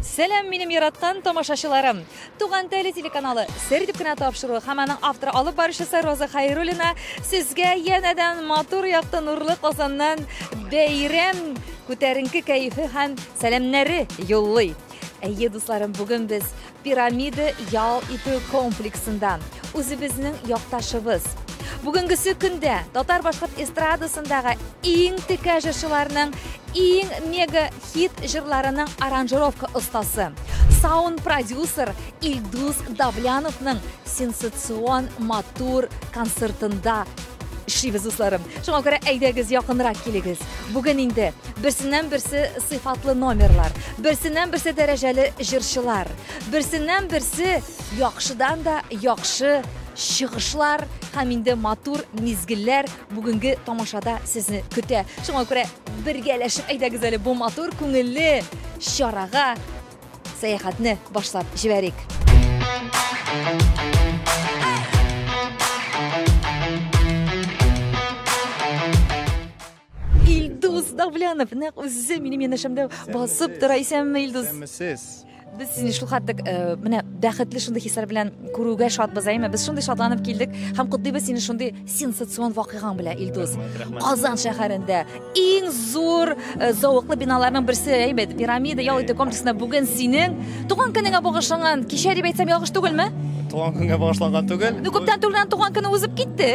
Сәлам, минем яраткан тамашачыларым! Туган теле телеканалы Сер дип кенә тапшыруы һәм аның авторы алып баручысы Роза Хайруллина сезгә янәдән матур якты нурлы Казаннан бәйрәм күтәренке кәефе һәм сәламнәре юллый. Әйе, дусларым, бүген без Пирамида ял итү комплексында үзебезнең якташыбыз, бүгенгесе көндә татар-башкорт эстрадасындагы иң текә җырчыларның иң мега хит җырларының аранжировка остасы, саунд продюсер Илдус Давляновның сенсацион матур концертында Эшлибез, дусларым. Шуңа күрә әйдәгез якынрак килегез. Бүген инде берсеннән берсе сыйфатлы номерлар, берсеннән берсе дәрәҗәле җырчылар, берсеннән берсе яхшыдан да яхшы чыгышлар һәм инде матур мизгелләр бүгенге тамашада сезне көтә. Шуңа күрә бергәләшеп әйдәгез әле бу матур күңелле чарага Сәяхәтне башлап җибәрик. Илдус Давлянов, нәкъ үзе минем янәшәмдә басып тора. Исәнме, Илдус? Исәнмесез. Без сине шул хәтлек э, менә бәхетле шундый хисләр белән күрүгә шатбыз, әйме? Без шундый шатланып килдек һәм котлыйбыз сине шундый сенсацион вакыйгаң белән илдус казан шәһәрендә иң зур э, зәвыклы биналарның берсе әйбәт пирамида ял итү комплексында бүген синең туган көнеңә багышланган кичә дип әйтсәм ялгыш түгелме туган көнгә багышланган түгел ну күптән түгел туган көне узып китте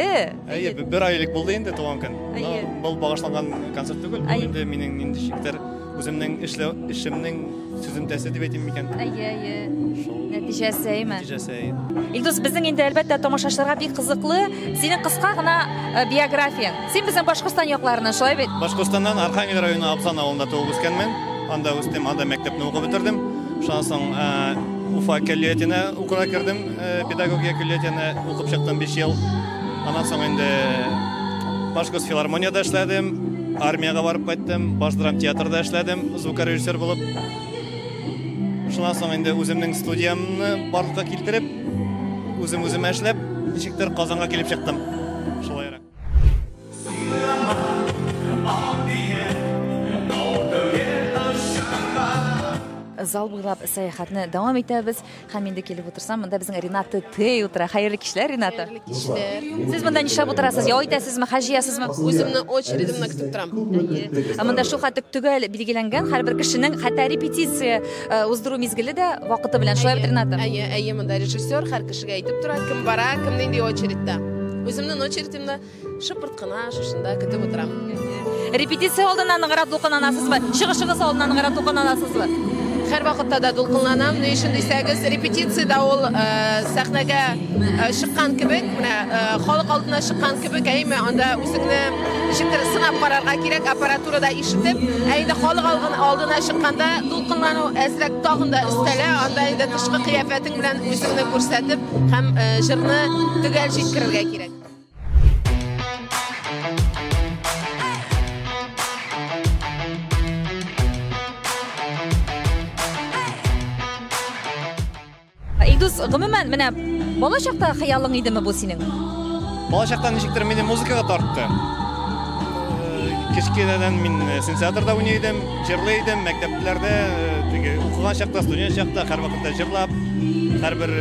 әйе бер ай элек булды инде туган көн әйе был багышланган концерт түгел бу инде минем ниндичектер Үземнең эшләү эшемнең сүземтәсе дип әйтим микән? Әйе, әйе. Нәтиҗәсе, әйме? Нәтиҗәсе. Илдус, безнең инде әлбәттә тамашачыларга бик кызыклы. Синең кыска гына э, биографияң. Син безнең Башкортстан якларыннан, шулай бит? Башкортстаннан Архангел районы Абзан авылында туып үскәнмен. Анда үстем, анда мәктәпне укып бетердем. Шуннан соң э, Уфа көллиятенә укырга кердем. Э, педагогия көллиятене укып чыктым 5 ел. Аннан соң инде Башкорт филармонияда эшләдем, армиягә барып кайттым, Баш драм театрда эшләдем, звукорежиссер булып. Шуннан соң инде үземнең студиямне барлыкка китереп, үзем үземә эшләп, ничектер Казанга килеп чыктым. Шулайрак. зал буйлап сәяхәтне дәвам итәбез һәм инде килеп утырсам монда безнең рената тей утыра хәерле кичләр рената хәерле кичләр сез монда нишләп утырасыз ял итәсезме хәл җыясызмы үземне очередемне көтеп торам әйе ә монда шулхәтлек төгәл билгеләнгән һәрбер кешенең хәтта репетиция Э, уздыру мизгеле дә вакыты белән шулай бит ринатым әйе әйе монда режиссер һәр кешегә әйтеп тора кем бара кем нинди очередьта үземнең очередемда шыпырт кына шушында көтеп утырам репетиция алдыннан ныграк дулкынланасызбы чыгышыгыз алдыннан ныграк дулкынланасызбы һәр вакытта да дулкынланам ни өчен дисәгез репетицияда ул э, сәхнәгә э, чыккан кебек менә халык алдына чыккан кебек әйме анда үзеңне ничектер сынап карарга кирәк аппаратурада Ишетеп, ә инде халык алгын алдына чыкканда дулкынлану әзрәк тагын да өстәлә, анда инде тышкы кыяфәтең белән үзеңне күрсәтеп һәм э, җырны төгәл җиткерергә кирәк. Илдус, гомумән, менә бала чакта хыялың идеме бу синең? Бала чакта ничектер мине музыкага тартты. Э, кечкенәдән мин э, синтезаторда уйный идем, җырлый идем, мәктәпләрдә, э, укыган чакта, студент чакта һәрвакытта җырлап, һәрбер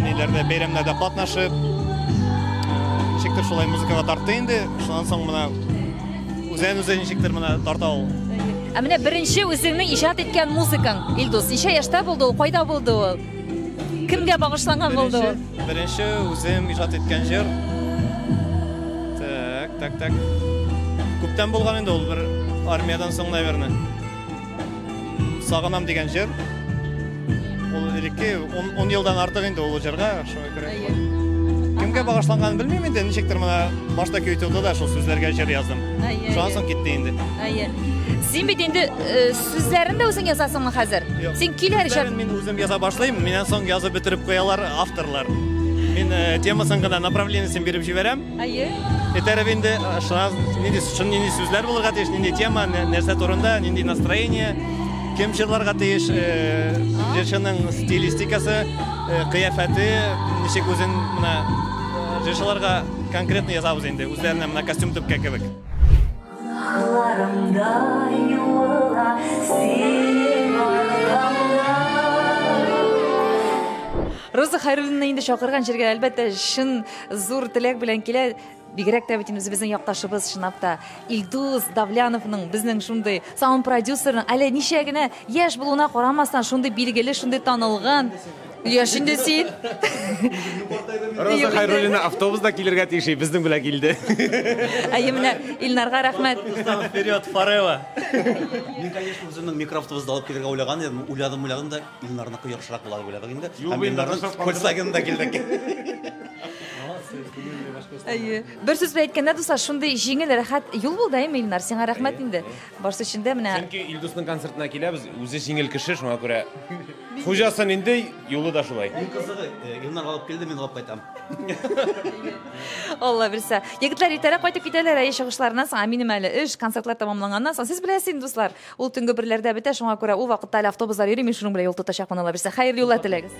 ниләрдә бәйрәмнәрдә катнашып, ничектер шулай музыкага тартты инде. Шуннан соң менә Үзен үзе ничектер менә тарта ул. Ә менә беренче үзеңне иҗат иткән музыкаң, Илдус, ничә яшьтә булды ул, кайда булды ул? Кемгә багышланган булды ул? Беренче үзем иҗат иткән җыр. Так, так, так. Күптән булган инде ул, бер армиядән соң, наверное. Сагынам дигән җыр. Ул элекке 10 елдан артык инде ул җырга, шуңа күрә. Кемгә багышланганын белмим инде, ничектер менә башта көй тулды да шул сүзләргә җыр яздым. Шуннан соң китте инде. Әйе. Син бит инде э, сүзләрен дә үзең язасыңмы хәзер? Юк. Син килер җыр. Сүзләрен Мин үзем яза башлыйм, миннән соң язып бетереп куялар авторлар. Мин э, темасын гына направлениесен биреп җибәрәм. Әйе. Этәреп инде шуннан нинди шун нинди сүзләр булырга тиеш, нинди тема, нәрсә турында, нинди настроение, кем җырларга тиеш, җырчының стилистикасы, кыяфәте, ничек үзен менә җырчыларга конкретно язабыз инде, үзләренә менә костюм төпкә кебек. Кулларымда юыла синең аркамда. Роза Хәйруллинаны инде чакырган җиргә, әлбәттә, чын Зур теләк белән килә, бигрәк тә бит үзебезнең якташыбыз чынлап та Илдус Давляновның безнең шундый саунд продюсерның әле ничә генә яшь булуына карамастан шундый билгеле, шундый танылган Яшь инде син. Роза Хайруллина автобуста килергә тиеш, безнең белән килде. Әйе менә Илнарга рәхмәт. Вперед, Фарева. Мин, конечно, үземнең микроавтобусны алып килергә уйлаган идем, уйладым, уйладым да Илнарныкы йорышрак була дип уйладык инде. Юк, Һәм Илнарның Илнарның сакланды. Volkswagen-да килдек. Әйе. Бер сүз белән әйткәндә, дуслар, шундый җиңел, рәхәт юл булды, әйме, Илнар? Сиңа рәхмәт инде. Барсы өчен дә менә Чөнки Илдусның концертына киләбез, үзе җиңел кеше, шуңа күрә хуҗасы нинди, юлы да шулай. Иң кызыгы, э, Илнар алып килде, мин алып кайтам. Алла бирсә. Егетләр иртәрәк кайтып китәләр, әйе, чыгышларыннан соң, ә минем әле эш, концертлар тәмамланганнан соң, сез беләсез инде, дуслар. Ул төнге берләрдә бетә, шуңа күрә ул вакытта әле автобуслар йөри, мин шуның белән юл тотачакмын алабирсә. Хәерле юллар теләгез.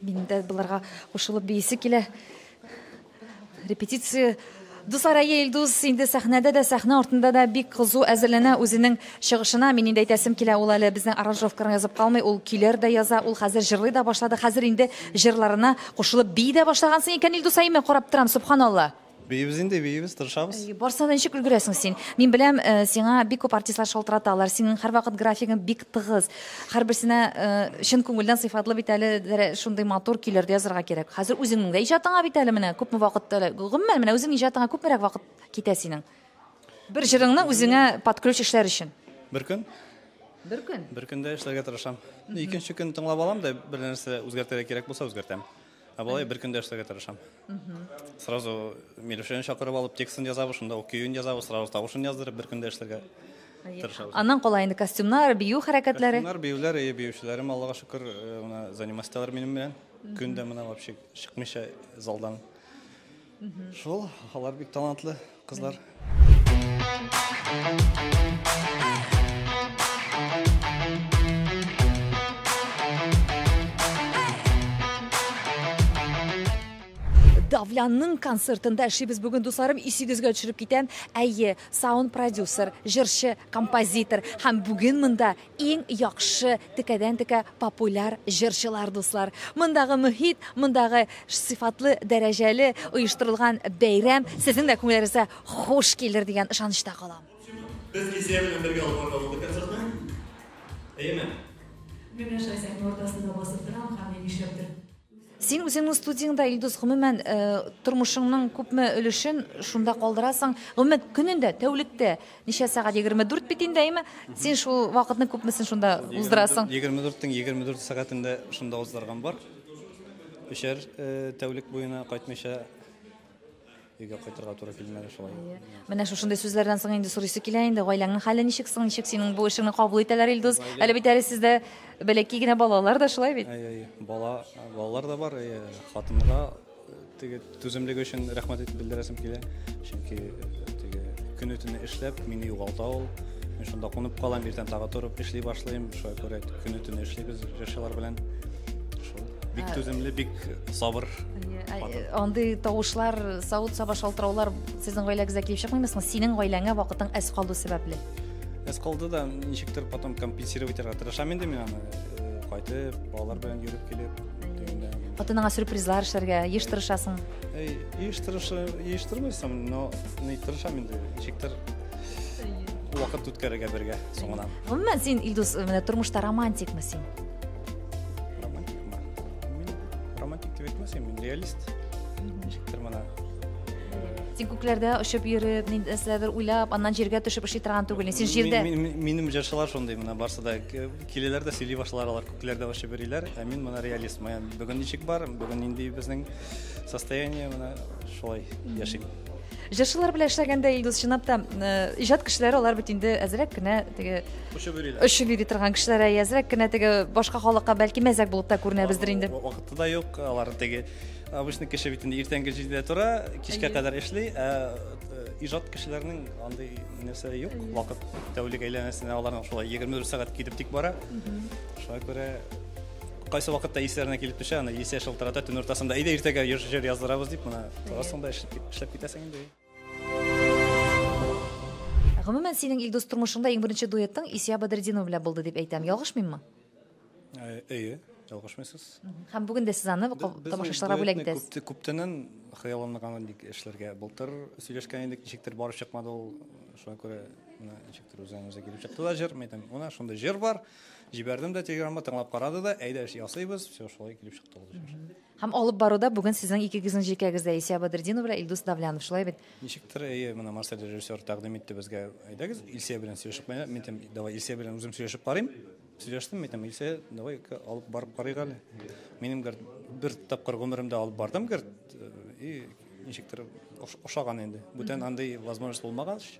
Мин дә боларга кушылып биисе килә. Репетиция Дуслар, әйе, Илдус инде сәхнәдә дә, сәхнә артында да бик кызу әзерләнә үзенең Чыгышына, мин инде әйтәсем килә, ул әле безнең аранжировка гына язып калмый, ул көйләр дә яза, ул хәзер җырлый да башлады, хәзер инде җырларына кушылып бии дә башлагансың икән, Илдусай, мин карап торам, сөбханалла! Биибез инде, биибез, тырышабыз. Барсына да ничек өлгерәсең син? Мин беләм, сиңа бик күп артистлар шалтыраталар, синең һәрвакыт графигың бик тыгыз, һәрберсенә чын күңелдән сыйфатлы бит әле шундый матур көйләр дә язарга кирәк. Хәзер үзеңнең дә иҗатыңа бит әле менә күпме вакыт, гомумән, менә үзеңнең иҗатыңа күпмерәк вакыт китә синең? Бер җырыңны үзеңә под ключ эшләр өчен. Бер көн. Бер көн. Бер көндә эшләргә тырышам. Икенче көн тыңлап алам да бер нәрсә үзгәртергә кирәк булса үзгәртәм. Ә болай бер көндә эшләргә тырышам. Сразу Милюшәне чакырып алып текстын язабыз, шунда ук көен язабыз, сразу тавышын яздырып бер көндә эшләргә тырышабыз. Аннан кала инде костюмнар, бию хәрәкәтләре. Костюмнар, биюләр, и биючеләрем Аллага шөкер, менә занимасть итәләр минем белән. Көн дә менә вообще чыкмыйча залдан. Шул, алар бик талантлы кызлар. Давлянның концертында эшлибез бүген дусларым исегезгә төшереп китәм әйе саунд продюсер җырчы композитор һәм бүген монда Иң яхшы текәдән текә популяр җырчылар дуслар. Мондагы мөхит, мондагы сыйфатлы, дәрәҗәле оештырылган бәйрәм сезнең дә күңелләрегезгә хуш килер дигән ышанычта калам. Без Илсөя белән бергә алып барырга булдык концертны. Әйеме? Менә Шайзәкне уртасында басып торам һәм мин нишләптер. Син үзеңнең студияңдә, Илдус, гомумән, тормышыңның күпме өлешен шунда калдырасың? Гомумән, көнендә, тәүлектә ничә сәгать? 24 бит инде, әйме? Син шул вакытның күпмесен шунда уздырасың? 24 тиң 24 сәгатен дә шунда уздырган бар. Өчәр тәүлек буена кайтмыйча. Өйгә кайтырга туры килмәде шулай. Менә шушындый сүзләрдән соң инде сорыйсы килә инде, гаиләңнең хәле ничек соң, ничек синең бу эшеңне кабул итәләр, Илдус? Әле бит әле сездә бәләкәй генә балалар да шулай бит? Әй, әй, бала, балалар да бар, әй, хатынга э, теге түземлеге өчен рәхмәт итеп белдерәсем килә. Чөнки э, теге көне төне эшләп, мине югалта ул. Мин шунда кунып калам, иртән тагы торып эшли башлыйм. Шуңа күрә көне төне эшлибез җырчылар белән. Бик ә, түземле, бик сабыр. Андый тавышлар, савыт-саба шалтыраулар сезнең гаиләгезгә килеп чыкмыймы? Синең гаиләңә вакытың әз калу сәбәпле. Әз калды да ничектер потом компенсировать итәргә тырышам инде мин аны. Э, кайтып, балалар белән йөреп килеп, Хатыныңа сюрпризлар эшләргә еш тырышасың. Эй, еш тырышы, еш тырмыйсың, но ни тырышам инде, ничектер вакыт үткәрергә бергә соңынан. Гомумән син Илдус, менә тормышта романтикмы син? романтик ма мин романтик дип әйтмәсем мин реалист ничектер мына син күкләрдә очып йөреп нәрсәдер уйлап аннан җиргә төшеп эшли торган түгел син җирдә минем җырчылар шундый менә барысы да киләләр дә сөйли башлар алар күкләрдә очып йөриләр ә мин менә реалист менә бүген ничек бар бүген нинди безнең состояние менә шулай яшим Җырчылар белән эшләгәндә Илдус чынлап та иҗат кешеләре алар бит инде әзрәк кенә теге очып йөриләр. Очып йөри торган кешеләр әзрәк кенә теге башка халыкка бәлки мәзәк булып та күренәбездер инде. Вакыты да юк, алар теге обычный кеше бит инде иртәнге җидедә тора, кичкә кадәр эшли, ә э, иҗат кешеләрнең андый нәрсә юк, вакыт тәүлек әйләнәсенә аларның шулай 24 сәгать китеп тик бара. Шуңа күрә Кайсы вакытта исләренә килеп төшә, аны исә шылтырата төн уртасында. Әйдә иртәгә җыр яздырабыз дип, менә торасың да эшләп китәсең инде. Гомумән, синең Илдус тормышыңда иң беренче дуэтың Исия Бадретдинова белән булды дип әйтәм. Ялгышмыйммы? Э, әйе, ялгышмыйсыз. Һәм бүген дә сез аны тамашачыларга бүләк итәсез. Күптәннән хыялымны гамәл ник эшләргә. Былтыр сөйләшкән идек, ничектер барып чыкмады ул. Шуңа күрә ничектер үзеннән-үзе килеп чыкты да җыр. Мен әйтәм, менә шундый җыр бар. Җибәрдем дә телеграмма, тыңлап карады да, әйдә эш ясыйбыз, все шулай килеп чыкты ул җыр. Һәм алып баруда бүген сезнең икегезнең җилкәгездә Исә Бадретдинов белән Илдус Давлянов, шулай бит? Ничектер, әйе, менә Марсель режиссер тәкъдим итте безгә, әйдәгез Илсә белән сөйләшеп, менә мин әйтәм, давай Илсә белән үзем сөйләшеп карыйм. Сөйләштем, мин әйтәм, Илсә, давай алып барып карыйк әле. Минем гер бер тапкыр гомеремдә алып бардым гер и ничектер ошаган инде. Бүтән андый возможность булмагач,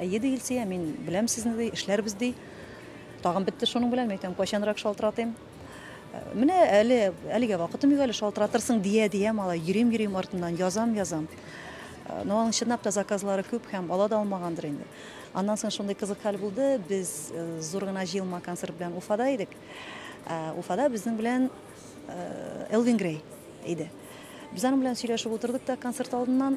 Әйе, ди Илсөя, мин беләм сезне, ди, эшләрбез, ди. Тагын бетте шуның белән, мин әйтәм, кайчанрак шалтыратыйм. Менә әле, әлегә вакытым юк әле, шалтыратырсың, дия, дия, малай, йөрим, йөрим артыннан, язам, язам. Но аның чынлап та заказлары күп һәм ала да алмагандыр инде. Аннан соң шундый кызык хәл булды, без э, зур гына җыелма концерт белән Уфада идек. Э, Уфада безнең белән э, Элвин Грей иде. Без аның белән сөйләшеп утырдык та концерт алдыннан,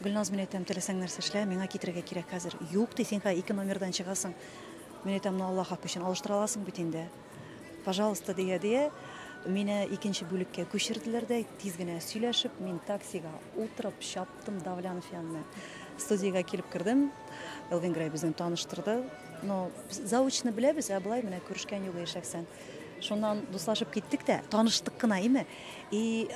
Гөлназ, мин әйтәм, теләсәң нәрсә эшлә, миңа китерергә кирәк хәзер. Юк, ди, син хәзер ике номердан чыгасың. Мин әйтәм, ну Аллаһ хакы өчен алыштыра аласың бит инде. Пожалуйста, дия, дия. Мине икенче бүлеккә күчерделәр дә, тиз генә сөйләшеп, мин таксига утырып чаптым Давлянов янына. Студиягә килеп кердем. Элвин Грей безне таныштырды. Но заочно беләбез, ә былай менә күрешкән юк шәхсән. Шуннан дуслашып киттек тә, таныштык кына име. И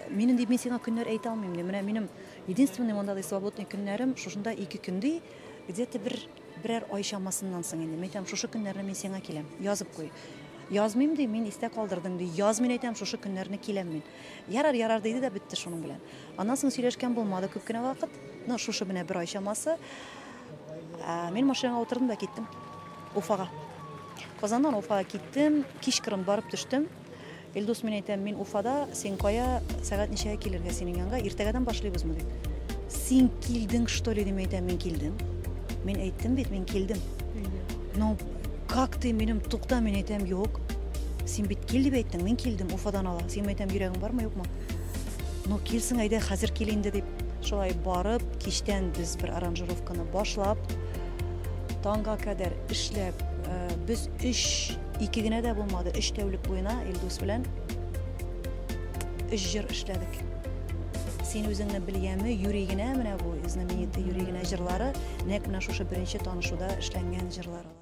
Минем дип мин сиңа көннәр әйтә алмыйм ди. Менә минем единственный мондадый свободный көннәрем шушында ике көн ди. Где-то бер берәр ай чамасыннан соң инде. Мин әйтәм, шушы көннәрне мин сиңа киләм. Язып куй. Язмыйм ди, мин истә калдырдым ди. Яз мин әйтәм, шушы көннәрне киләм мин. Ярар, ярар диде дә бетте шуның белән. Аннан соң сөйләшкән булмады күп кенә вакыт. Ну, шушы менә бер ай чамасы. Ә, мин машинага утырдым да киттем. Уфага. Казаннан Уфага киттем. Кичкырын барып төштем. Илдус, мин әйтәм, мин Уфада, син кая, сәгать ничәгә килергә синең янга, иртәгәдән башлыйбызмы дип. Син килдең, что ли, дип әйтәм, мин килдем. Мин әйттем бит, мин килдем. Ну, как ты минем тукта, мин әйтәм, юк. Син бит кил дип әйттең, мин килдем, Уфадан ала. Син әйтәм, йөрәгең бармы, юкмы? Ну, килсең, әйдә, хәзер кил инде дип. Шулай барып, кичтән без бер аранжировканы башлап, таңга кадәр эшләп, э, без өч Ике генә дә булмады, өч тәүлек буена Илдус белән өч җыр эшләдек. Син үзеңне белгәнме, юри генә менә бу знаменитый юри генә җырлары, нәк менә шушы беренче танышуда эшләнгән җырлар алар.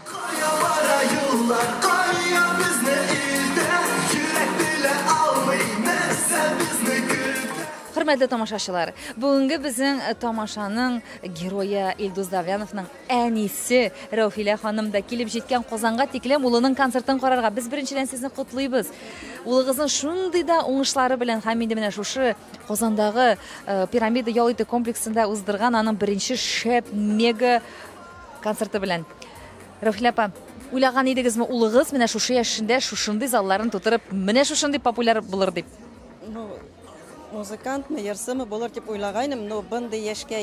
Кая бара юллар, кая безне илдән, йөрәк белә алмый, нәрсә безне көтә. Хөрмәтле тамашачылар, бүгенге безнең тамашаның герое Илдус Давляновның Әнисе, Рәүфилә ханым да килеп җиткән Казанга тиклем улының концертын карарга. Без беренчедән сезне котлыйбыз. Улыгызның шундый да уңышлары белән һәм инде менә шушы Казандагы Пирамида ял итү комплексында уздырган аның беренче шәп мега концерты белән. Рәүфилә апа, уйлаган идегезме улыгыз менә шушы яшендә шушындый залларын тутырып, менә шушындый популяр булыр дип? Ну, музыкантмы, йырсымы булыр дип уйлагайным, но бындый яшькә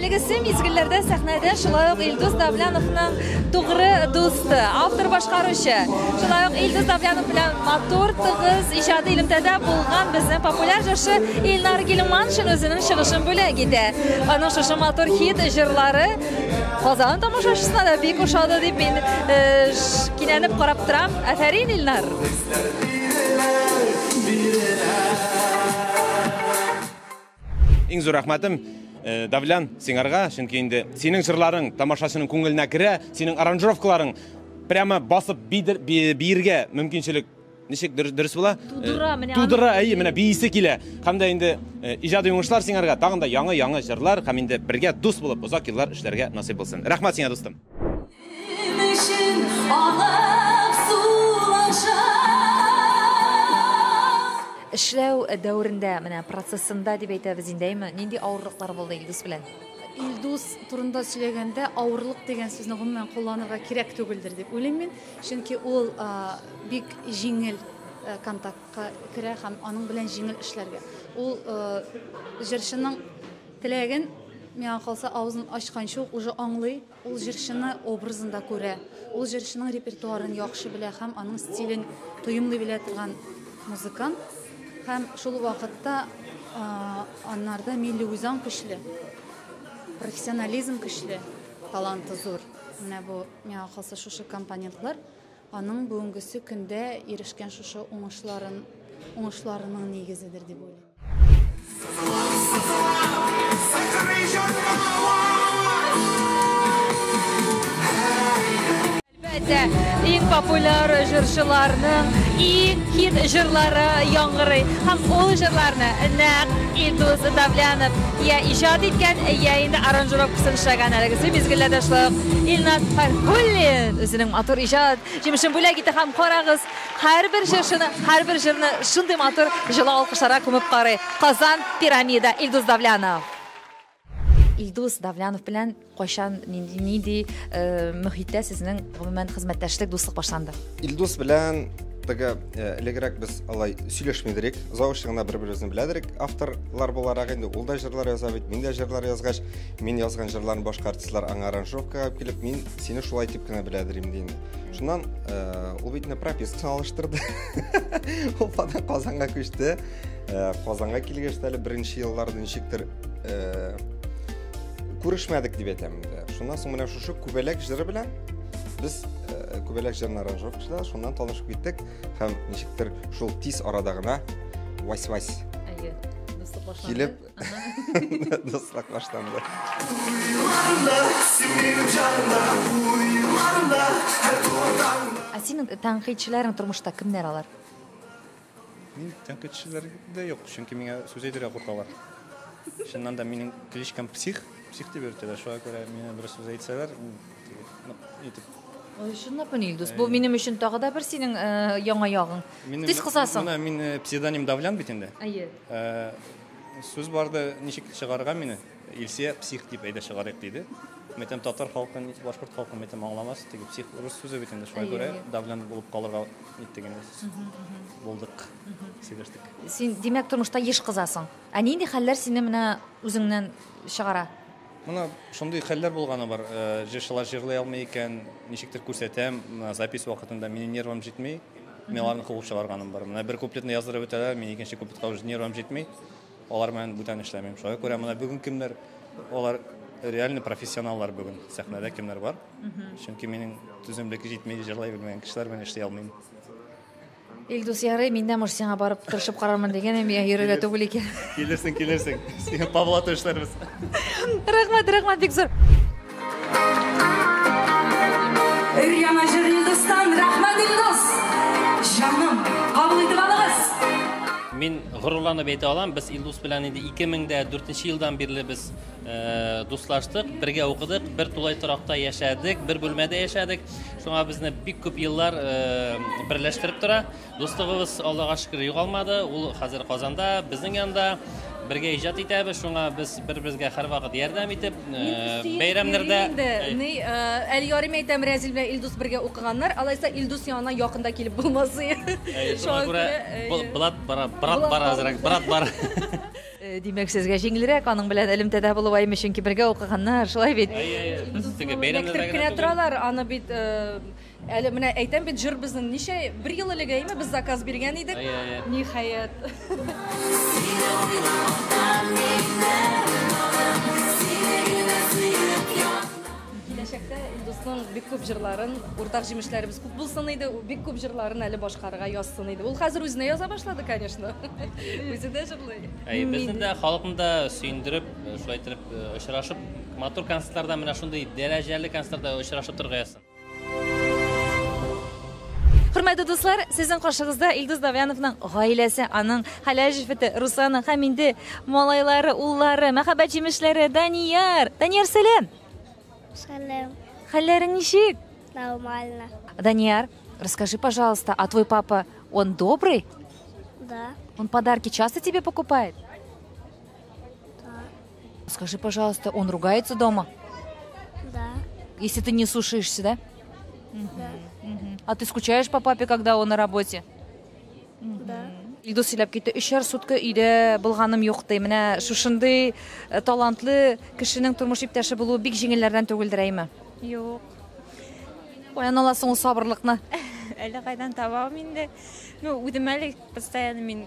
Әлеге сый мизгелләрдә сәхнәдә шулай ук Илдус Давляновның тугры дусты, автор башкаручы. Шулай ук Илдус Давлянов белән матур, тыгыз иҗади элемтәдә булган безнең популяр җырчы Илнар Гилманшин үзенең чыгышын бүләк итә. Аның шушы матур хит җырлары Казан тамашачысына да бик ошады дип мин э, кинәнеп карап торам. Афәрин, Илнар! Иң зур рәхмәтем э, Давлян сиңарга, чөнки инде синең җырларың тамашачының күңеленә керә, синең аранжировкаларың прямо басып биергә мөмкинчелек ничек дөрес була? Тудыра, э, менә. Тудыра, әйе, менә биисе килә. Һәм дә инде э, иҗади уңышлар сиңарга, тагын да яңа-яңа җырлар һәм инде бергә дус булып озак еллар эшләргә насыйп булсын. Рәхмәт сиңа, дустым. Эшләү дәверендә, менә процессында дип әйтәбез инде, әйме, нинди авырлыклар булды Илдус белән? Илдус турында сөйләгәндә, авырлык дигән сүзне гомумән кулланырга кирәк түгелдер дип уйлыйм мин. Чөнки ул бик җиңел контактка керә һәм аның белән җиңел эшләргә. Ул җырчының теләген, миңа калса, авызын ачканчы ук уже аңлый. Ул җырчыны образында күрә, ул җырчының репертуарын яхшы белә һәм аның стилен тоемлый белә торган музыкант. Һәм шул вакытта аннарда милли үзаң көчле, профессионализм көчле, таланты зур. Менә бу миңа калса шушы компонентлар Аның бүгенгесе көндә ирешкән шушы уңышларын, уңышларының нигезедер дип уйлыйм. Иң популяр җырчыларның иң хит җырлары яңгырый. Һәм ул җырларны нәкъ Илдус Давлянов я иҗат иткән, я инде аранжировкасын эшләгән әлеге мизгелләрдә шулай ук Илназ Фархуллин. Үзенең матур иҗат җимешен бүләк итә һәм карагыз, һәрбер җырчыны, һәрбер җырны шундый матур җылы алкышларга күмеп карый Казан Пирамида Илдус Давлянов. Илдус Давлянов белән кайчан, нинди, нинди э, мөхиттә сезнең гомумән хезмәттәшлек, дуслык башланды? Илдус белән теге э, элегрәк без алай сөйләшмидерик, завучта гына бер-беребезне беләдерик. Авторлар буларак инде ул да җырлар яза бит, мин дә җырлар язгач, мин язган җырларны башка артистлар аңа аранжировкага алып килеп, мин сине шулай дип кенә беләдер инде инде шуннан э, ул бит пропискасын алыштырды уфадан казанга күчте э, казанга килгәч әле беренче елларда ничектер э, күрешмәдек дип әйтәм инде шуннан соң менә шушы күбәләк җыры белән без күбәләк җырын аранжировкачыда шуннан танышып киттек һәм ничектер шул тиз арада гына вась вась килеп Дустрак башланды. Ә синең тәнкыйтьчеләрең тормышта кемнәр алар? Мин тәнкыйтьчеләр дә юк, чөнки миңа сүз әйтергә куркалар. Чыннан да минем кличкам псих, псих дип йөртәләр. Шуңа күрә миңа бер сүз әйтсәләр, итеп Ой, чынлап мени Илдус? Бу минем өчен тагы да бер синең яңа ягың. Тиз кысасың. Менә мин псевдоним Давлян бит инде. Әйе. Сүз барды, ничек чыгарырга мине? Илсия псих дип әйдә чыгарыйк диде. Мин әйтәм, татар халкы, ни- башкорт халкы мин әйтәм, аңламас. Теге псих рус сүзе бит инде, шуңа Әйе, күрә әйе. давлен булып калырга иттек инде. Булдык, сөйләштек. Син, димәк, тормышта еш кызасың. Ә нинди хәлләр сине менә үзеңнән чыгара? Менә шундый хәлләр булганы бар. Э, җырчылар җырлый алмый икән, ничектер күрсәтәм, запись вакытында минем нервым җитми. Мин аларны куып чыгарганым бар. Менә бер куплетны яздырып бетәләр, мин икенче куплетка уже нервым җитми. Алар белән бүтән эшләмим. Шуңа күрә менә бүген кемнәр алар реально профессионаллар бүген сәхнәдә кемнәр бар. Чөнки минем түземлек җитми, җырлай белмәгән кешеләр белән эшли алмыйм. Илдус ярый, мин дә муж сиңа барып тырышып карармын дигән, әм я йөрергә түгел икән. Килерсең, килерсең. Сиңа Павла төшерербез. Рәхмәт, рәхмәт бик зур. Өр яңа җыр Илдустан, рәхмәт Илдус. Җаным, кабул итеп алыгыз. Мин горурланып әйтә алам, без Илдус белән инде 2004 елдан бирле без Э, дуслаштык, бергә укыдык, бер тулай торакта яшәдек, бер бүлмәдә яшәдек. Шуңа безне бик күп еллар э, берләштереп тора. Дуслыгыбыз Аллага шөкер югалмады. Ул хәзер Казанда, безнең янда бергә иҗат итәбез. Шуңа без бер-безгә һәрвакыт ярдәм итеп, э, бәйрәмнәрдә Ни, әл ярым әйтәм, Рәзил белән Илдус бергә укыганнар. Алайса Илдус янына якында килеп булмас. Шуңа күрә брат бара, брат бара, брат бара. Димәк, сезгә җиңелрәк аның белән элемтәдә булу аймы, чөнки бергә укыганнар, шулай бит? Әйе, әйе. Без теге бәйрәмнәрдә Электеп кенә түгел. торалар, аны бит э, әле менә әйтәм бит, җыр безнең ничә бер ел элек әйме без заказ биргән идек. Әйе, әйе. Ниһаять. Киләчәктә Илдусның бик күп җырларын, уртак җимешләребез күп булсын иде, бик күп җырларын әле башкарырга язсын иде. Ул хәзер үзенә яза башлады, конечно. Үзе дә җырлый. Әй, безне дә, халыкны да сөендереп, шулай итеп очрашып, матур концертларда, менә шундый дәрәҗәле концертларда очрашып торырга язсын. Хөрмәтле дуслар, сезнең каршыгызда Илдус Давяновның гаиләсе, аның хәләл җефете Русана һәм инде малайлары, уллары, мәхәббәт җимешләре Данияр. Данияр, сәлам. Сәлам. Хәлләрең ничек? Нормально. Данияр, расскажи, пожалуйста, а твой папа, он добрый? Да. Он подарки часто тебе покупает? Скажи, пожалуйста, он ругается дома? Да. Если ты не слушаешься, да? Да. А ты скучаешь по папе, когда он на работе? Да. Илдус сөйләп китте, өчәр сутка өйдә булганым юк ди. Менә шушындый э, талантлы кешенең тормыш иптәше булуы бик җиңелләрдән түгелдер әйме? Юк. Каян аласың ул сабырлыкны? Әллә кайдан табам инде. Ну, үзем әле постоянно мин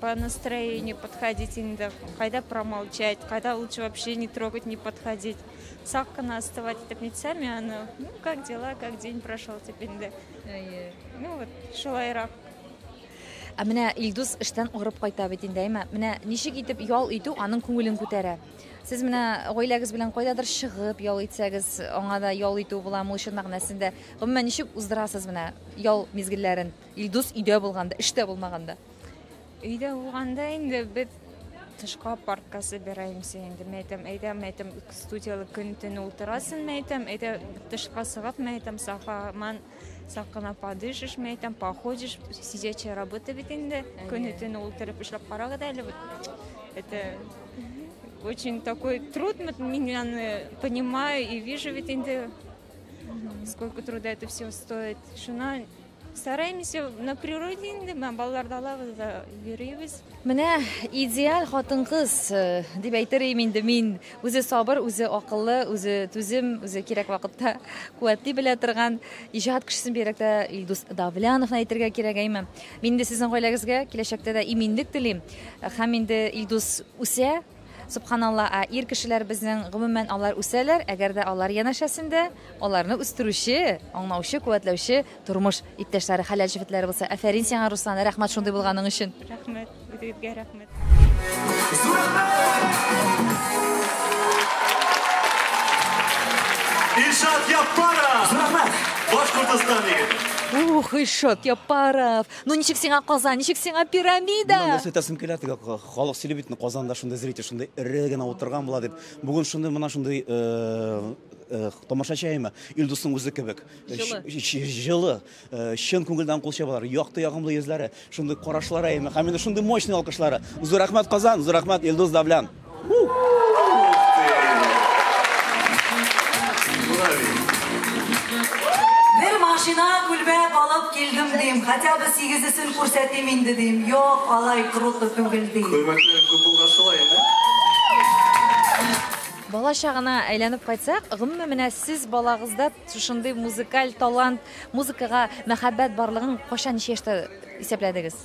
По настроению подходить инде, кайда промолчать, кайда лучше вообще не трогать, не подходить. Сак кына остывать итеп нитсәм, яны, ну, как дела, как день прошел, дип инде. Әйе. Ну, вот, шулайрак. Ә менә Илдус эштән агырып кайта бит инде, әйме? Менә ничек итеп ял итү аның күңелен күтәрә. Сез менә гаиләгез белән кайдадыр чыгып ял итсәгез, аңа да ял итү була, ул чын мәгънәсендә. Гомумән ничек уздырасыз менә ял мизгелләрен? Илдус өйдә булганда, эштә булмаганда. Өйдә булганда инде без тышка паркка собираемся инде. Мен әйтәм, әйдә, мен әйтәм, студияле көн-төн ултырасын, мен әйтәм, әйдә тышка сыгып, мен әйтәм, сафа, ман сакына подышыш, мен әйтәм, походишь, сидячая работа бит инде. Көн-төн ултырып эшләп карагыз әле бит. Это очень такой труд, мин аны понимаю и вижу ведь инде, сколько труда это все стоит. Шуна Стараемся на природе инде, менә балаларда алабыз да йөрибез. Менә идеаль хатын-кыз э, дип әйтер идем инде мин. Үзе сабыр, үзе акыллы, үзе түзем, үзе кирәк вакытта куәтли белә торган иҗат кешесен бигрәктә Илдус Давляновны әйтергә кирәк әйме. Мин инде сезнең гаиләгезгә киләчәктә дә иминлек телим. Һәм инде Илдус үсә, Сөбханалла, ә ир кешеләр безнең, гомумән, алар үсәләр, әгәр дә алар янәшәсендә аларны үстерүче, аңлаучы, куәтләүче тормыш иптәшләре, хәләл җефетләре булса. Афәрин сиңа, Руслан, рәхмәт шундый булганың өчен. Рәхмәт, үзегезгә рәхмәт. Илшат Яппаров! Зур рәхмәт! Башкортостан егете! Ух, Илшат Яппаров! Ну ничек сиңа Казан, ничек сиңа пирамида? Моннан нәрсә үтәсем килә, теге Халык сөйли бит, Казанда шундый зритель, шундый эре генә утырган була дип. Бүген шундый мына шундый тамашачы әйме, Илдусның үзе кебек. Җылы. Чын күңелдән кул чабалар. Якты, ягымлы йөзләре, шундый карашлары әйме. Һәм инде шундый мощный алкышлары. Зур рәхмәт Казан, зур рәхмәт Илдус Давлян. Бер машина күлмәк алып килдем дим, хотя бы сигезесен Күрсәтим инде дим, юк, алай круто түгел ди. Күрмәкләрем күп булгач шулай инде. Бала чагына әйләнеп кайтсак, гомумән менә сез балагызда шушындый музыкаль талант, музыкага мәхәббәт барлыгын кайчан ничә яшьтә исәпләдегез?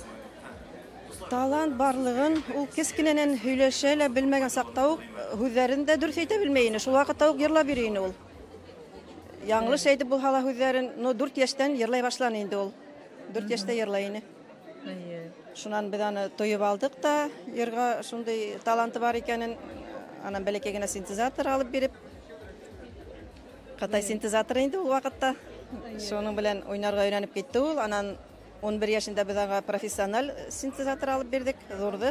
Талант барлыгын ул кечкенәнән һөйләшә лә белмәгән сакта ук һүзләрен дә дөрес әйтә белми ине. Шул вакытта ук йырлап йөри ине ул. Яңлыш әйтеп булса да һүзләрен, ну дүрт яшьтән йырлай башлан инде ул. Дүрт яшьтә йырлай ине. Шуннан без аны тоеп алдык та, йырга шундый таланты бар икәнен, анан бәләкәй генә синтезатор алып биреп, Кытай синтезаторы инде ул вакытта. Шуның белән уйнарга өйрәнеп китте ул. Анан 11 яшендә без аңа профессиональ синтезатор алып бирдек, зурды.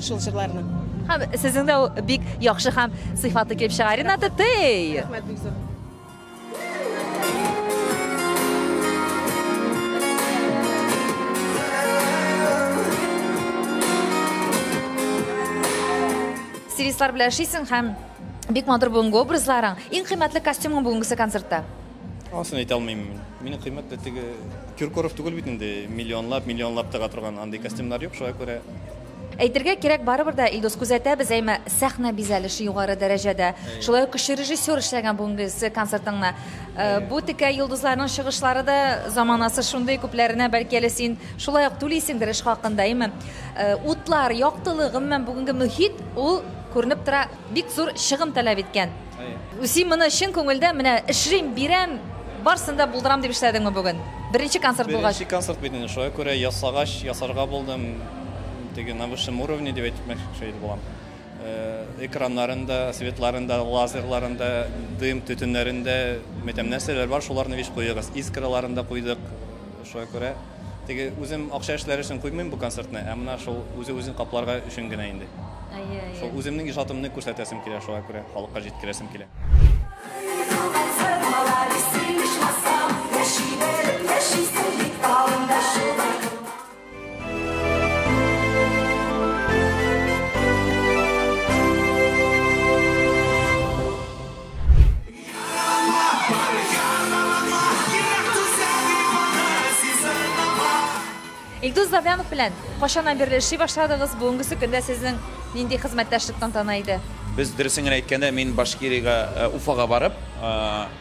шул җырларны. Һәм сезнең дә бик яхшы һәм сыйфатлы килеп чыга. Рената Тей! Рәхмәт бик зур. Стилистлар белән эшлисең һәм бик матур бүгенге образларың. Иң кыйммәтле костюмың бүгенгесе концертта? Анысын әйтә алмыйм. Мине кыйммәт тә теге Киркоров түгел бит инде. Миллионлап, миллионлап тыга торган андый костюмнар юк, шуңа күрә Әйтергә кирәк, барыбер дә, Илдус, күзәтәбез, әйме, сәхнә бизәлеше югары дәрәҗәдә. Шулай ук кеше режиссер эшләгән бүгенге концертыңны. Э, бу текә йолдызларның чыгышлары да заманасы шундый, күпләренә бәлки әле син шулай ук түлисеңдер эш хакында, әйме. Э, утлар, яктылык, гомумән бүгенге мөхит ул күренеп тора, бик зур чыгым таләп иткән. Үсим моны чын күңелдән менә эшлим, бирәм, барсын да булдырам дип эшләдеңме бүген? Беренче концерт булгач. Беренче концерт бит инде, шуңа күрә ясагач, ясарга булдым. Теге на высшем уровне дип әйтмәкче булам. Э, экраннарын да, светларын да, лазерларын да, дым, төтеннәрен дә, мәтәм нәрсәләр бар, шуларны вич куегыз. Искраларын да куйдык, Шуңа күрә теге үзем акча эшләр өчен куймыйм бу концертны, ә менә шул үзе үзен капларга өчен генә инде. Әйе, әйе. Шул үземнең иҗатымны күрсәтәсем килә, шуңа күрә халыкка җиткерәсем килә. Илдус Давлянов белән кайчаннан бирле эшли башладыгыз, бүгенгесе көндә сезнең нинди хезмәттәшлек тантана иде? Без, дөресен генә әйткәндә, мин Башкирига, Уфага барып,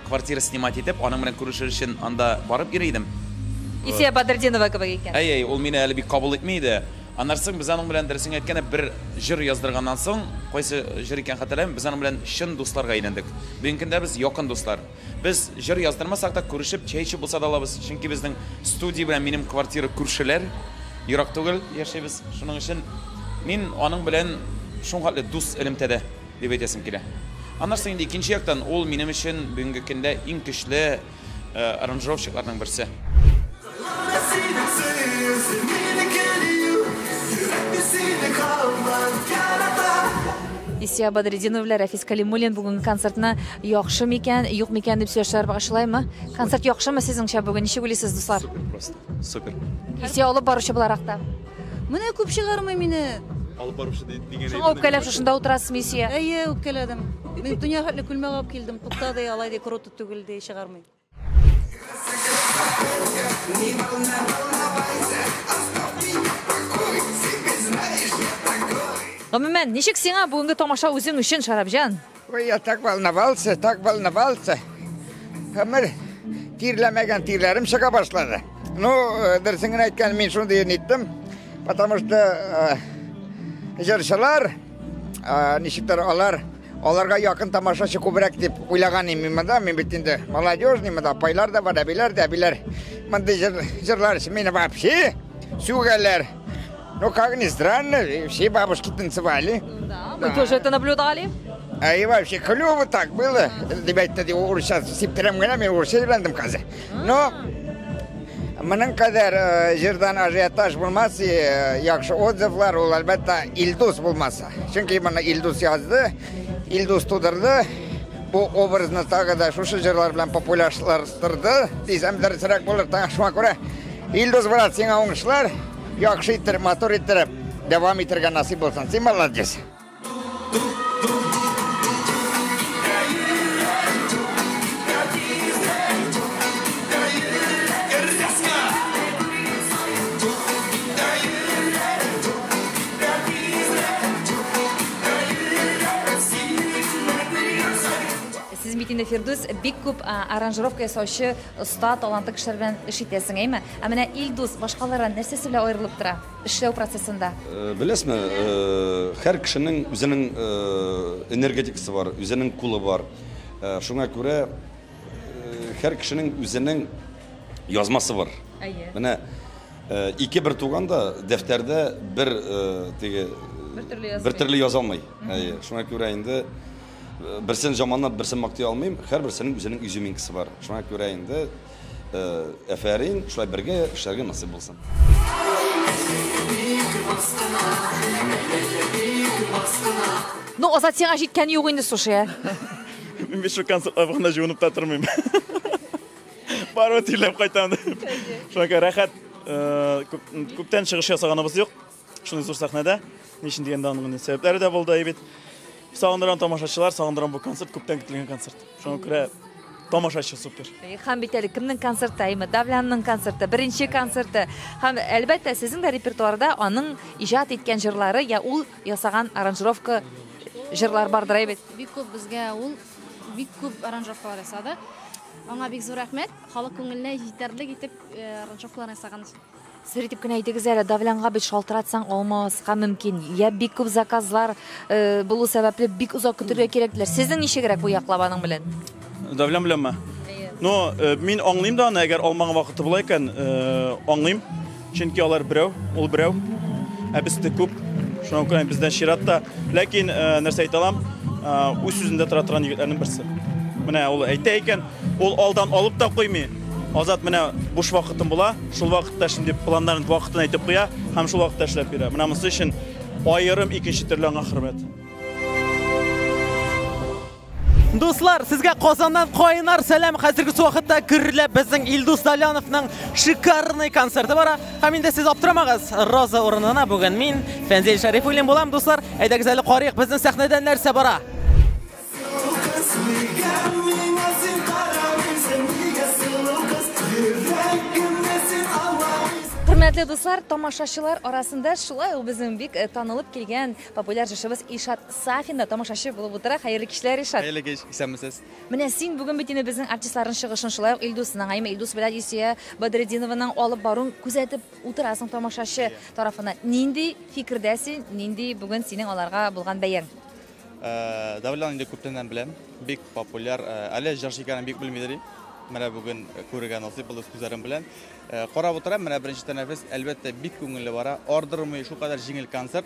квартира снимать итеп, аның белән күрешер өчен анда барып йөри идем. Исия Бадретдинова кебек икән. Әй-әй, ул мине әле бик кабул итми иде. Аннары соң без аның белән, дөресен әйткәндә, бер җыр яздырганнан соң, кайсы җыр икәнен хәтерләмим, без аның белән чын дусларга әйләндек. Бүгенге көндә без якын дуслар. Без җыр яздырмасак та, күрешеп, чәй эчеп булса да алабыз, чөнки безнең студия белән минем квартира күршеләр, ерак түгел яшибез. Шуның өчен мин аның белән шулхәтле дус элемтәдә, дип әйтәсем килә. Аннары соң инде икенче яктан, ул минем өчен бүгенге көндә иң көчле, аранжировщикларның берсе. Исия Бадрединов белән Рәфис Калимуллин бүген концертны яхшы микән, юк микән дип сөйләшәләр багышлаймы? Концерт яхшымы сезнеңчә бүген? Ничек уйлыйсыз, дуслар? Супер просто. Супер. Исия алып баручы буларак та. Менә күп чыгармый мине. Алып баручы дигән. Шуңа үпкәләп шушында утырасызмы, Исия? Әйе, үпкәләдем. Мин дөнья хәтле күлмәк алып килдем. Туктады, алай ди, круто. түгел, ди, чыгармый. Гомумән, ничек сиңа бүгенге тамаша үзең өчен, Шарабҗан? Ой, я так волновался, так волновался. Гомер тирләмәгән тирләрем чыга башлады. Ну, э, дөресен генә әйткән, мин шундый ниттем, потому что э, җырчылар, э, ничектер алар Аларга якын тамашачы күбрәк дип уйлаган идем мин монда. Мин бит инде молодежный, монда апайлар да бар, әбиләр дә, әбиләр. Мондый җыр, җырлар өчен мине вообще сүгәләр. Ну, как ни странно, и все бабушки танцевали. Да, мы тоже это наблюдали. А и вообще клево так было. Ребята, ди, урысча сиптирем генә, мин урысча өйрәндем хәзер. Но моның кадәр э, җырдан ажиотаж булмас, и, э, яхшы отзывлар ул, әлбәттә, Илдус булмас. Чөнки моны Илдус язды, Илдус тудырды. Бу образны тагы да шушы җырлар белән популярлаштырды. Дисәм дөресрәк булыр, тагы шуңа күрә. Илдус брат, сиңа уңышлар. Яхшы иттереп, матур иттереп дәвам итәргә насыйп булсын. Син молодец. Сез бит инде, Фирдүс, бик күп аранжировка ясаучы оста, талантлы кешеләр белән эш итәсең, әйме? Ә менә Илдус башкалардан нәрсәсе белән аерылып тора эшләү процессында? Беләсме, һәр кешенең үзенең энергетикасы бар, үзенең кулы бар. Шуңа күрә һәр кешенең үзенең язмасы бар. Әйе. Менә. Ике бер туган да дәфтәрдә бер теге бер төрле яза алмый. Әйе, шуңа күрә инде берсен жаманлап, берсен мактый алмыйм. Һәрберсенең үзенең изюминкасы бар. Шуңа күрә инде әфәрин, шулай бергә эшләргә насыйп булсын. Ну, Азат, сиңа җиткәне юк инде, слушай, ә? Мин бит шул концертларга гына җыенып та тормыйм. Барып тирләп кайтам. Шуңа рәхәт күптән чыгыш ясаганыбыз юк. Шундый зур сәхнәдә. Ни өчен дигәндә аның сәбәпләре дә булды бит. Сагындырам тамашачылар, сагындырам бу концерт, күптән көтелгән концерт. Шуңа күрә тамашачы супер. Һәм бит әле кемнең концерты, әйме, Давлянның концерты, беренче концерты. Һәм әлбәттә, сезнең дә репертуарда аның иҗат иткән җырлары я ул ясаган аранжировка җырлар бардыр бит. Бик күп безгә ул бик күп аранжировкалар ясады. Аңа бик зур рәхмәт. Халык күңеленә җитәрлек итеп ранжовкалар ясаган. Сер итеп кенә әйтегез әле, давлянга бит шалтыратсаң алмаска мөмкин. Я бик күп заказлар э, булу сәбәпле бик озак көтергә кирәк диләр. Сезнең ничегрәк бу яклап аның белән? Давлян беләнме? Ну, э, мин аңлыйм да аны, әгәр алмаган вакыты була икән, э, аңлыйм. Чөнки алар берәү, ул берәү, ә без тек күп. Шуңа күрә бездә чират та. Ләкин э, нәрсә әйтә алам, э, үз сүзендә тора торган егетләрнең берсе. Менә ул әйтә икән, ул алдан алып та куймый. Азат менә буш вакытым була, шул вакытта шундый планнарын вакытын әйтеп куя һәм шул вакытта эшләп бирә. Менә монысы өчен аерым икенче төрле аңа хөрмәт. Дуслар, сезгә Казаннан кайнар сәлам. Хәзерге вакытта гөрләп безнең Илдус Даляновның шикарный концерты бара. Һәм инде сез аптырамагыз, Роза урынына бүген мин Фәнзил Шәрифуллин булам, дуслар. Әйдәгез әле карыйк безнең сәхнәдә нәрсә бара. Хөрмәтле дуслар, тамашачылар арасында шулай ук безнең бик танылып килгән Популяр җырчыбыз Илшат Сафин да тамашачы булып утыра. Хәерле кичләр, Илшат! Хәерле кич, исәнмесез! Менә син бүген бит инде безнең артистларның чыгышын, шулай ук Илдусның, әйеме, Илдус белән Илсөя Бадретдинованың алып баруын күзәтеп утырасың тамашачы тарафыннан. Нинди фикердә син, нинди бүген синең аларга булган бәяң? Давлетны инде күптәннән беләм, бик популяр, әле җырчы икәнен бик белмидер идем. Менә бүген күрергә насыйп булды үз күзләрем белән. Карап утырам, менә беренче тәнәфес, әлбәттә, бик күңелле бара. Ардырмый, шулкадәр җиңел концерт.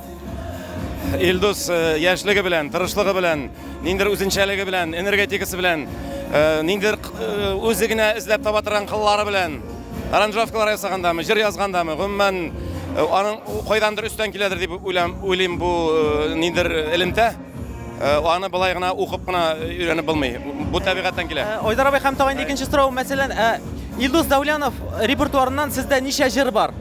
Илдус э, яшьлеге белән, тырышлыгы белән, ниндер үзенчәлеге белән, энергетикасы белән, э, ниндер э, үзе генә эзләп таба торган кыллары белән аранжировкалар ясагандамы, җыр язгандамы, гомумән аның кайдандыр өстән киләдер дип уйлам, уйлыйм бу ниндер элемтә. Аны былай гына укып кына өйрәнеп булмый. Бу табигатьтән килә. Айдар абый һәм тагын икенче сорау, мәсәлән, Илдус Даулянов репертуарыннан сездә ничә җыр бар?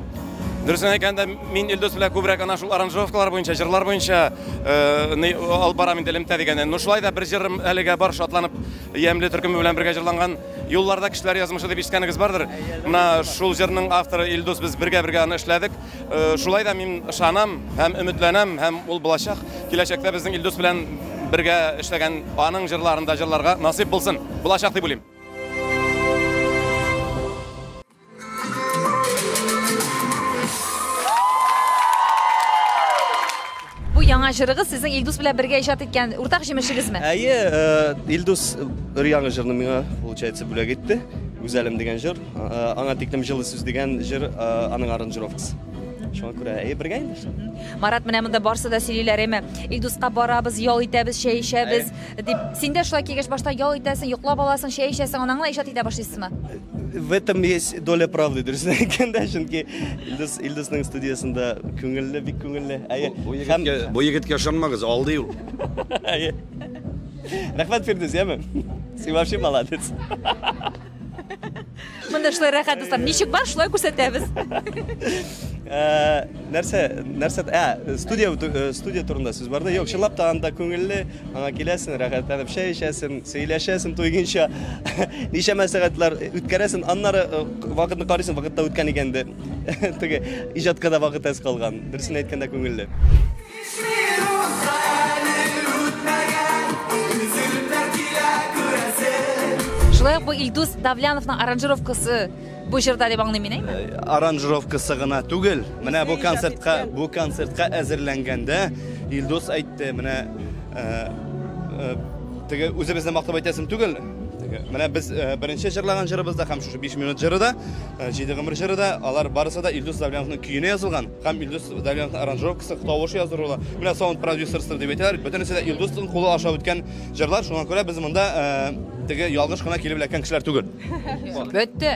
Дөресен әйткәндә, мин Илдус белән күбрәк ана шул аранжировкалар буенча, җырлар буенча э, алып барам инде элемтә дигәннән. Ну шулай да бер җырым әлегә бар, шатланып ямьле төркеме белән бергә җырланган Юлларда кешеләр язмышы дип ишеткәнегез бардыр. Менә шул җырның авторы Илдус без бергә-бергә аны эшләдек. Э, шулай да мин ышанам һәм өметләнәм һәм ул булачак. Киләчәктә безнең Илдус белән бергә эшләгән аның җырларында җырларга насыйп булсын. Булачак дип уйлыйм. Бу яңа җырыгыз сезнең Илдус белән бергә иҗат иткән уртак җимешегезме? Әйе, э, Илдус бер яңа җырны миңа, получается, бүләк итте. Гүзәлем дигән җыр. Э, аңа тиклем җылы сүз дигән җыр, э, аның аранжировкасы. Шуңа күрә әйе, бергә инде. Марат, менә монда барсы да сөйлиләр, әйме? Илдуска барабыз, ял итәбез, чәй эчәбез. Дип, син дә шулай кигәч башта ял итәсең, йоклап аласың, чәй эчәсең, аннан гына иҗат итә башлыйсызмы? В этом есть доля правды, дөресен әйткәндә, чөнки Илдус Илдусның студиясендә күңелле, бик күңелле. Әйе. Бу егеткә, бу егеткә ышанмагыз, алдый ул. Әйе. Рәхмәт Фирдүс, яме. Син вообще молодец. Монда шулай рәхәт дуслар. Ничек бар, шулай күрсәтәбез. Э, нәрсә, нәрсә, ә, студия э, студия турында сүз барда. Юк, чынлап та анда күңелле, аңа киләсең, рәхәтләнеп чәй эчәсең, сөйләшәсең туйгынча. Ничәмә сәгатьләр үткәрәсең, аннары э, вакытны карыйсың, вакытта үткән икән инде. Теге иҗатка да вакыт әз калган. Дөресен әйткәндә күңелле. Шулай ук бу Илдус Давляновның аранжировкасы бу җырда дип аңлыйм мин, әйме? Э, аранжировкасы гына түгел. Менә бу концертка, бу концертка әзерләнгәндә Илдус әйтте, менә э, э, теге үзебезне мактап әйтәсем түгел. Менә без беренче җырлаган җырыбызда һәм шушы 5 минут җыры да, 7 гомер җыры да, алар барысы да Илдус Давляновның көенә язылган. Һәм Илдус Давлетовның аранжировкасы, тавышы язу ролы. Менә саунд продюсерстыр дип әйтәләр. Бөтенесе дә Илдусның кулы аша үткән җырлар. Шуңа күрә без монда э, теге ялгыш кына килеп эләккән кешеләр түгел. Бетте.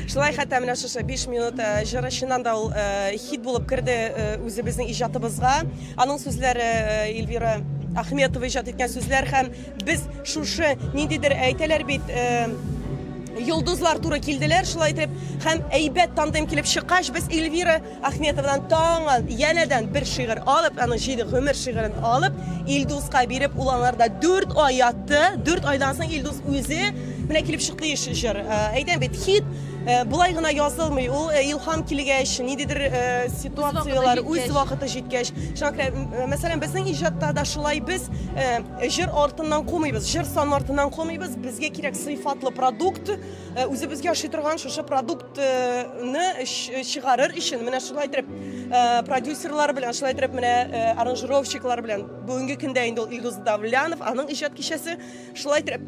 Шулай хәтта менә шушы 5 минут э, җыры чыннан да ул э, хит булып керде э, үзебезнең иҗатыбызга. Аның сүзләре э, Эльвира Ахметова иҗат иткән сүзләр һәм Без шушы ниндидер әйтәләр бит йолдызлар туры килделәр шулай итеп һәм әйбәт тандем килеп чыккач без эльвира ахметовадан таңы янәдән бер шигырь алып аны җиде гомер шигырен алып илдуска биреп ул аңарда дүрт ай ятты дүрт айдан соң илдус үзе менә килеп чыкты еш җыр э, әйтәм бит хит э, болай гына язылмый ул э, илһам килгәч ниндидер ситуацияләр үз вакыты җиткәч шуңа күрә мәсәлән безнең иҗатта да шулай без Э, җыр артыннан кумыйбыз җыр сан артыннан кумыйбыз безгә кирәк сыйфатлы продукт э, үзебезгә ашый торган шушы продуктны э, чыгарыр өчен менә шулай итеп продюсерлар белән шулай итеп менә аранжировщиклар белән бүгенге көндә инде ул илдус давлянов аның иҗат кичәсе шулай итеп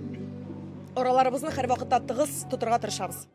араларыбызны һәрвакытта тыгыз тотырга тырышабыз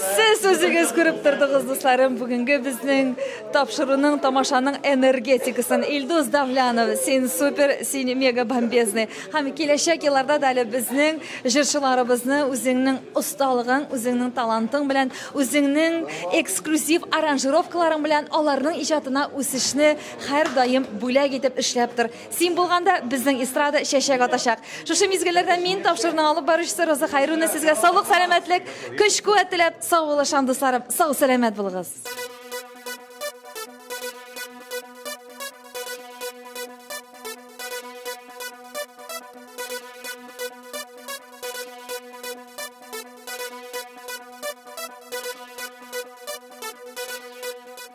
Сез үзегез күреп тордыгыз, дусларым, бүгенге безнең тапшыруның, тамашаның энергетикасын. Илдус Давлянов, син супер, син мега бомбезный. Һәм киләчәк елларда да әле безнең җырчыларыбызны үзеңнең осталыгың, үзеңнең талантың белән, үзеңнең эксклюзив аранжировкаларың белән аларның иҗатына үсешне һәрдаим бүләк итеп эшләп тор. Син булганда безнең эстрада чәчәк атачак. Шушы мизгелләрдә мин тапшыруның алып баручысы Роза Хайруна сезгә саулык, сәламәтлек, көч-куәт теләп, сау булыгыз, шан дусларым, сау сәламәт булыгыз.